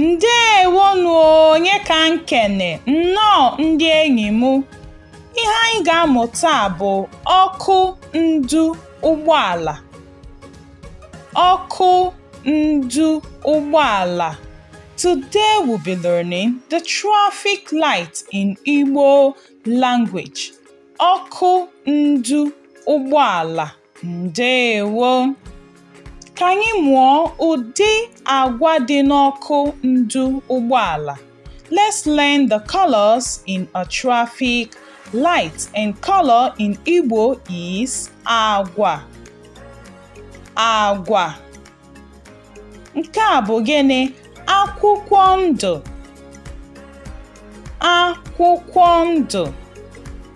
Ndewonụ Onyeka na-ekene nnọọ ndị enyi m ihe anyị ga-amụ taa bụ ọkụ ndu ụgbọala Ọkụ ndu ụgbọala Today we'll be learning the traffic light in Igbo language. Ọkụ ndu ụgbọala ndewo. Ka anyị mụọ ụdị agwa dị n'ọkụ ndu ụgbọala. Let's learn the colors in a traffic light and color in Igbo is agwa. Agwa. Nke a bụ gịnị? Akwụkwọ ndụ. Akwụkwọ ndụ.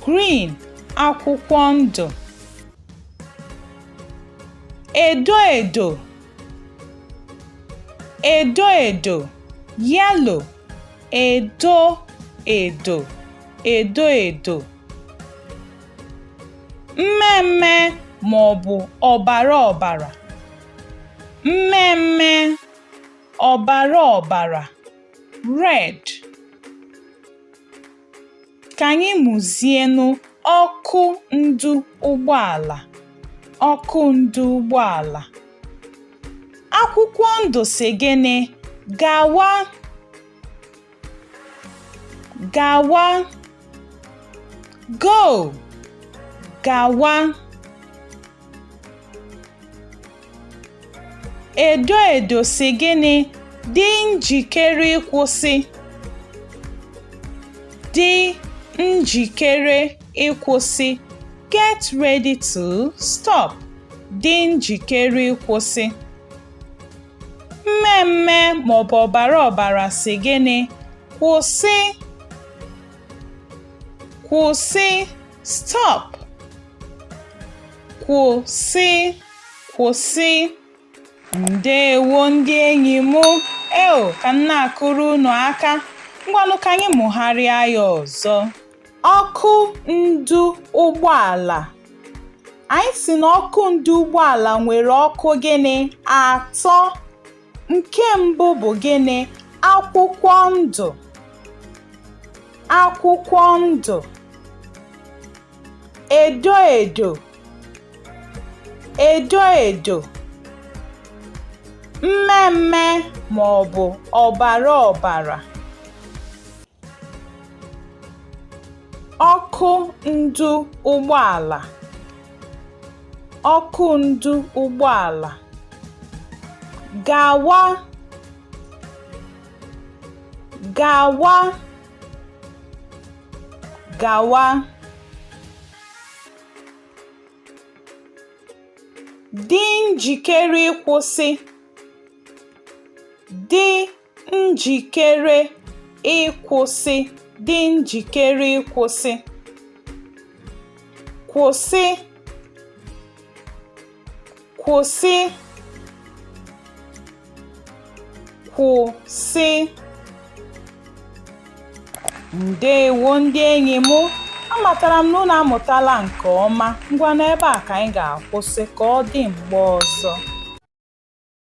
Green akwụkwọ ndụ. Edo edo edo edo yellow edo edo edo edo mmee mmee ma ọ bụ ọbara ọbara mmee mmee ọbara ọbara red Ka anyị mụzienụ ọkụ ndu ụgbọala ọkụ ndu ụgbọala. Akwụkwọ ndụ sị gịnị? Gawa gawa go gawa. Edo edo sị gịnị? Dị njikere ịkwụsị. Dị njikere ịkwụsị. Get ready to stop. Dị njikere ịkwụsị. Mmee mmee ma ọ bụ ọbara ọbara sị gịnị? Kwụsị. Kwụsị. stop kwụsị kwụsị ndewo ndị enyi m eo ka m na-akụrụ unu aka ngwanụ ka anyị mụgharịa ya ọzọ ọkụ ndu ụgbọala anyị sị na ọkụ ndu ụgbọala nwere ọkụ gịnị atọ Nke mbụ bụ gịnị? Akwụkwọ ndụ. Akwụkwọ ndụ. Edo edo. Edo edo. Mme mme ma ọ bụ ọbara ọbara. Ọkụ ndu ụgbọala. ọkụ ndu ụgbọala gawa gawa gawa dị njikere ịkwụsị dị njikere ịkwụsị dị njikere ịkwụsị kwụsị kwụsị kwụsị ndewo ndị enyi m amatara m na unu amụtala nke ọma ngwa n'ebe a ka anyị ga-akwụsị ka ọ dị mgbe ọzọ